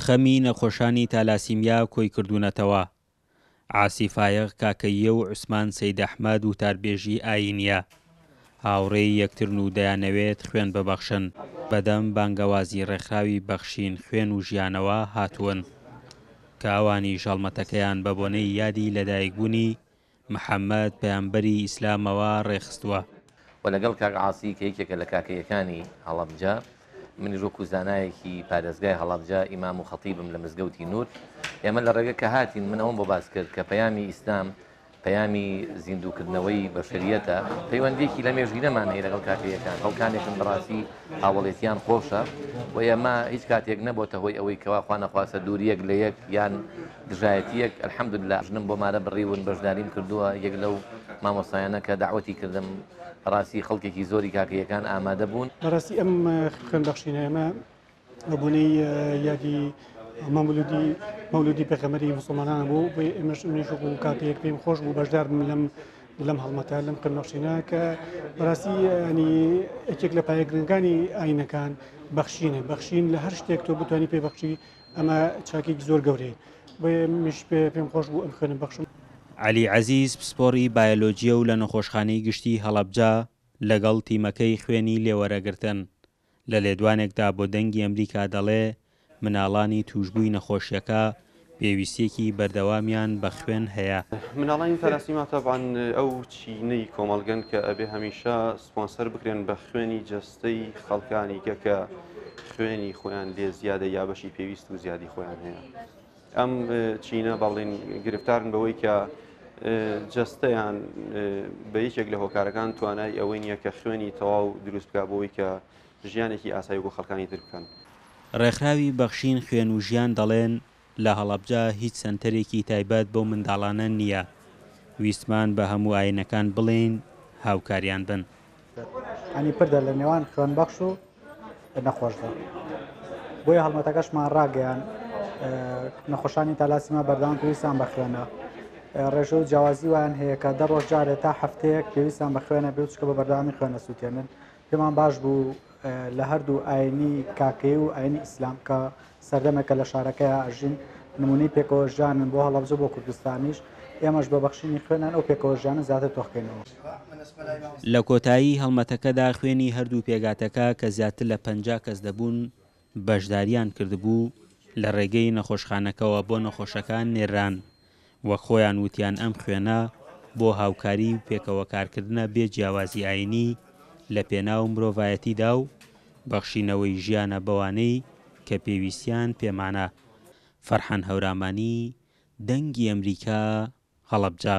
خەمی نەخۆشانی تالاسیمیا کۆی کردوونەتەوە عاسی فایەق کاکەییە و عوسمان سەید ئەحمەد وتاربێژی ئایینیە هاوڕێی یەکترن و دەیانەوێت خوێن ببەخشن بەدەم بانگەوازی ڕێکخراوی بەخشین خوێن و ژیانەوە هاتوون کە ئەوانیش هەڵمەتەکەیان بەبۆنەی یادی لەدایکبوونی محمد پەیامبەری ئیسلامەوە ڕێکخستووە. وە لەگەڵ کاک عاسی کە یەکێکە لە کاکەییەکانی هەڵەبجە منیش وەکو زانایەکی پارێزگای هەڵەبجە ئیمام و خەتیبم لە مزگەوتی نور ئێمە لە ڕێگە کە هاتین من ئەوەم بۆ باس کرد کە پەیامی ئیسلام پەیامی زیندووکردنەوەی بەشەریەتە پەیوەندیەکی لە مێژینەمان هەیە لەگەڵ کاکەیەکان خەڵکانێکن بەڕاستی هاوڵێتیان خۆشە و ئێمە هیچ کاتێک نەبۆتە هۆی ئەوەی کەوا خوانەخواسە دووریەک لە یەک یان دژایەتیەک الحمدللە ژنم بۆ مارە بڕیون بەشداریم کردووە یەک لەو مامۆستایانە کە دەعوەتی کردم بەڕاستی خەڵکێکی زۆری کاکەیەکان ئامادە بوون. بەڕاستی ئەم خوێن بەخشینە ئێمە بەبونەی یادی مەمولودی مەولودی پێغەمەری مسلمانان بوو بۆ ئێمەش منیش وەکو کاکەیەک پێم خۆش بوو بەشدار بم لەم لەم هەڵمەتە لەم خوێن بەخشینە کە بەڕاستی ینی یەکێک لە پایە گرنگانی ئاینەکان بەخشینە بەخشین لە هەر شتێک تۆ بتانی پێ بەخشی ئەمە چاکێکی زۆر گەورەیە بۆیە منیش پێ- پێم خۆش بوو ئەم خوێنە بەخشم. عەلی عەزیز پسپۆڕی بایۆلۆجییە و لە نەخۆشخانەی گشتیی هەڵەبجە لەگەڵ تیمەکەی خوێنی لێ وەرەگرتن. لە لێدوانێکدا بۆ دەنگی ئەمریکا دەڵێ مناڵانی تووشبووی نەخۆشییەکە پێویستییەکی بەردەوامیان بە خوێن هەیە. مناڵانی تالاسیما تەبعەن ئەو چینەی کۆمەڵگەن کە ئەبێ هەمیشە سپۆنسەر بکرێن بە خوێنی سەی خەڵکانی کە کە خوێنی خۆیان لێ زیادە یا بەشی پێویست و زیادی خۆیان هەیە ئەم چینە بەڵین گرفتارن بەوەی کە جستەیان بە یەکێک لە هۆکارەکان توانای ئەوەی نییە کە خوێنی تەواو دروست بکە بۆی کە ژیانێکی ئاسایی بۆ خەڵکانی تر بکەن. ڕێکخراوی بەخشین خوێن و ژیان دەڵێن، لە هەڵەبجە هیچ سەنتەرێکی تایبەت بەو منداڵانە نییە، ویستمان بە هەموو ئاینەکان بڵێین هاوکاریان بن. انی پردە لە نێوان خوێنبەخش و نەخۆشدا، بۆیە هەڵمەتەکەشمان ڕاگەیاند، نەخۆشانی تالاسیما بەردەوام پێویستیان بە خوێنە، ڕێژە و جیاوازی وایان هەیە کە دە ڕۆژ جارێ تا هەفتەیەک پێویستیان بە خوێنە، بێجگە بە بەردەوامی خوێنەسووتێنن، پێمان باش بوو لە هەردوو ئاینی کاکەیی و ئاینی ئیسلام کە سەردەمێکە لە شارەکەیا ئەژین نمونەی پێکەوە ژیانن بۆ هەڵەبجە بۆ کوردستانیش ئێمەش بە بەخشینی خوێنیان ئەو پێکەوە ژیانە زیاتر تۆخکەینەوە. لە کۆتایی هەڵمەتەکەدا خوێنی هەردوو پێگاتەکە کە زیاتر لە پەنجا کەس دەبوون، بەشدارییان کردبوو، لە ڕێگەی نەخۆشخانەکەوە بۆ نەخۆشەکان نێرران، وەک خۆیان وتیان ئەم خوێنە بۆ هاوکاری و پێکەوەکارکردنە بێ جیاوازی ئایینی لە پێناو مرۆڤایەتیدا و بەخشینەوەی ژیانە بەوانەی کە پێویستیان پێمانە. فەرحان هەورامانی، دەنگی ئەمریکا، هەڵەبجە.